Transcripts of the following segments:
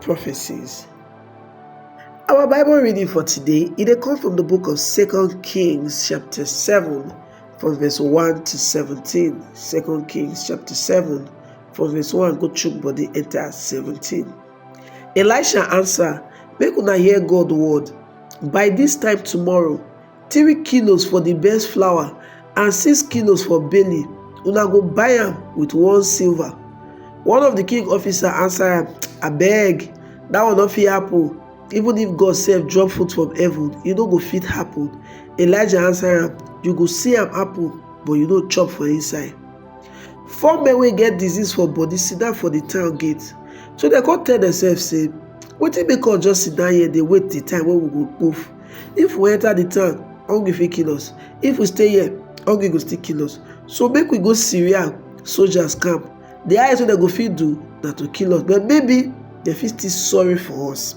prophecies. Our Bible reading for today, it dey come from the book of Second Kings chapter 7 from verse 1 to 17. Second Kings chapter 7 from verse 1 go chook body enter 17. Elisha answer, make una hear God word. By this time tomorrow, three kilos for di best flour and six kilos for barley una go buy am with one silver one of di king officer answer am abeg dat one no fit happen even if god sef drop food from heaven e no go fit happen elijah answer am you go see am happen but you no chop for inside four men wey get disease for body sit down for di town gate so dem come tell demsef say wetin make us just sit down here dey wait di time wey we go move If we enter the town, hungry fit kill us. If we stay here, hungry go still kill us. So make we go Syria soldiers camp. The highest wey dem go fit do na to kill us, but maybe dem fit still sorry for us.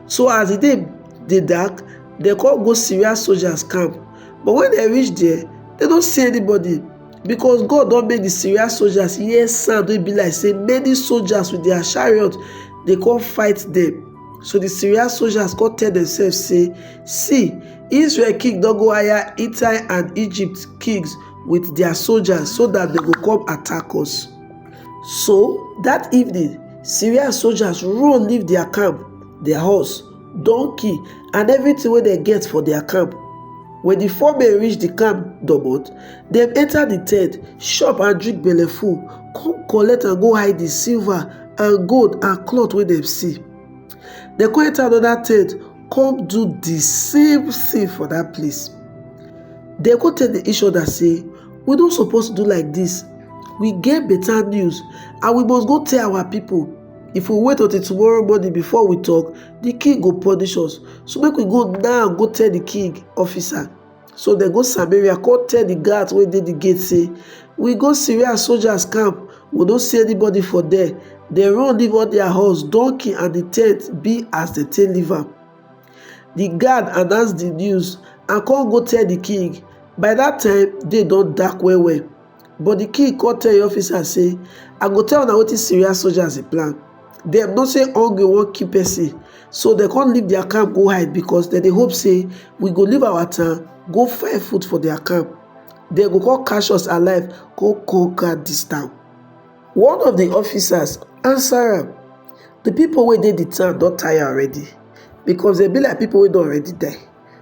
So as the day dey dark, dem come go Syria soldiers camp. But when dem reach there, dem no see anybody because God don make the Syria soldiers hear sound wey be like say many soldiers with their chariot dey come fight them. So the Syria soldiers come tell themselves, say, See, Israel king don go hire Hittite and Egypt kings with their soldiers so that they go come attack us. So that evening, Syria soldiers run leave their camp, their horse, donkey, and everything wey dem get for their camp. When the four men reach the camp domot, dem enter the tent, chop and drink belleful, come collect and go hide the silver and gold and cloth wey dem see. Dem come enter another tent come do the same thing for that place. Dem come tell each other say, we no suppose do like this. We get better news and we must go tell our people. If we wait until tomorrow morning before we talk, the king go punish us. So make we go now go tell the king officer. So dem go Samaria come tell the guards wey dey the gate say, We go Syria soldiers camp, we no see anybody for there. Dem run leave all their horse, donkey and the tent be as dem take leave am. The guard announce the news and come go tell the king. By that time, day don dark well well. But di king kon tell im officers sey, I go tell una wetin Syria soldiers dey plan. Dem know sey hungry won kill pesin, so dem kon leave dia camp go hide because dem dey hope sey we go leave our town go find food for dia camp. Dem go kon catch us alive kon conquer dis town. One of di officers answer am, Di pipo wey dey di town don tire already, because dem be like pipo wey don already die.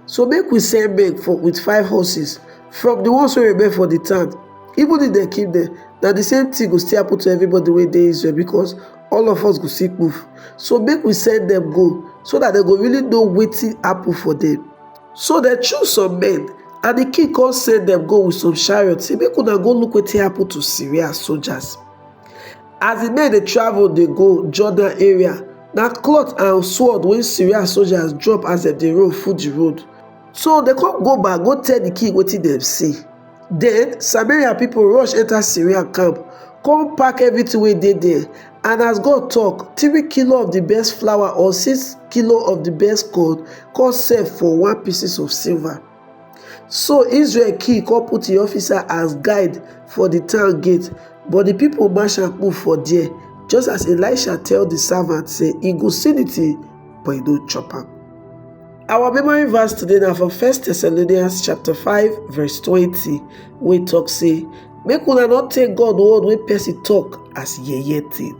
So make we send men for with five horses from the ones wey remain for the town, even if dem kill them, na the same thing go still happen to everybody wey dey Israel because all of us go still kpuf. So make we send them go so that dem go really know wetin happen for them. So dem choose some men and the king come send them go with some chariots say make una go look wetin happen to Syria soldiers. As di men dey travel dey go Jordan area, na cloth and sword wey Syria soldiers drop as dem dey roll full di road. So dem come go back go tell di king wetin dem see. Den Samaria pipo rush enta Syria camp, come pack everytin wey dey there, and as God tok, three kilo of di best flour or six kilo of di best corn come sell for one pieces of silver. So Israel king come put im officer as guide for the town gate, but the people mash am put for there, just as Elisha tell the servant say he go see the thing, but he no chop am. Our memory verse today na from 1 Thessalonians chapter 5 verse 20 wey talk say make una not take God word wey person talk as yeye thing.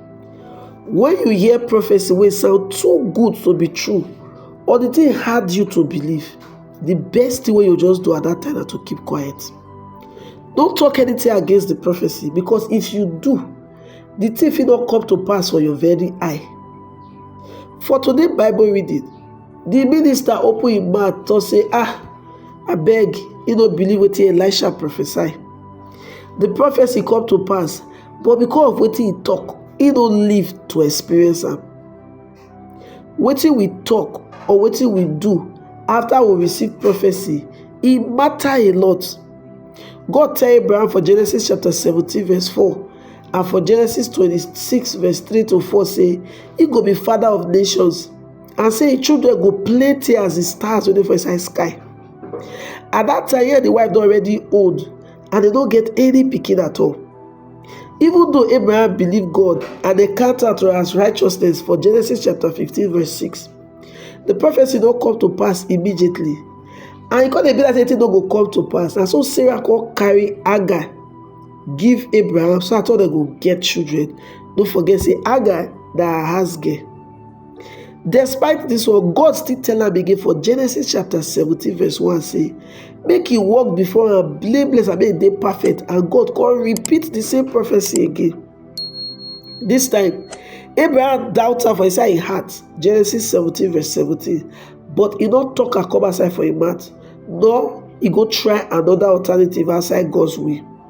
When you hear prophecy wey sound too good to be true or the thing hard you to believe, the best thing wey you just do at that time na to keep quiet. Don't talk anything against the prophecy because if you do, the thing fit not come to pass for your very eye. For today Bible reading, the minister open him mouth talk say, Ah, I beg, you no believe what Elisha prophesy. The prophecy come to pass but because of wetin he talk he no live to experience am wetin we talk or wetin we do after we receive prophecy e matter a lot god tell abraham for genesis chapter 17 verse 4 and for genesis 26 verse 3 to 4 say he go be father of nations and say him children go plenty as the stars wey dey for inside sky at that time yeah the wife don already old and dem no get any pikin at all even though abraham believe god and dem count am to as righteousness for genesis chapter 15 verse 6 the prophecy no come to pass immediately and e come dey be like say thing no go come to pass na so sarah come carry hagar give abraham so at all dem go get children no forget say hagar na her house girl despite dis one god still tell am again for genesis chapter seventeen verse one say make e walk before am blameless and make e dey perfect and god come repeat the same prophecy again this time abraham doubt am for inside im heart genesis seventeen verse seventeen but e no talk am come outside for im mouth nor e go try another alternative outside god's will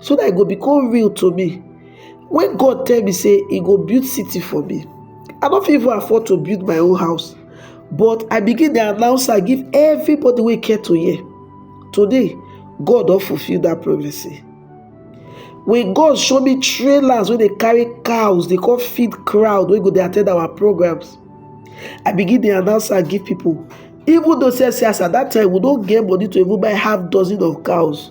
so that e go become real to me when god tell me say he go build city for me i no fit even afford to build my own house but i begin dey announce am give everybody wey care to hear today god don fulfil that prophecy when god show me trailers wey dey carry cows dey come feed crowd wey go dey attend our programs i begin dey announce am give people even though say say as at that time we no get money to even buy half dozen of cows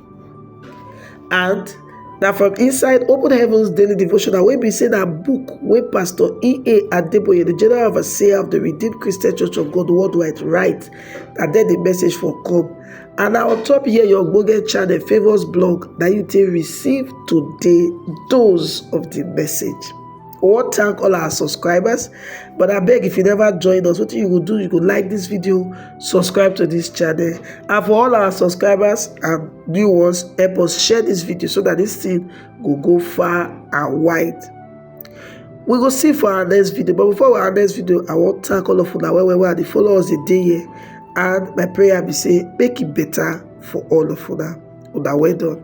And na from inside Open Heavens Daily Devotional wey be say na book wey Pastor E.A. Adeboye, the General Overseer of the Redeemed Christian Church of God Worldwide write, na there the message for come. And na on top here your ogbonge channel Favours Blog na you take receive today dose of the message. we wan thank all our subscribers but I beg if you never join us wetin you go do you go like this video subscribe to this channel and for all our subscribers and new ones help us share this video so that this thing go go far and wide we go see for our next video but before our next video i wan thank all of una well well well dey follow us dey dey here and my prayer be say make it better for all of una una well done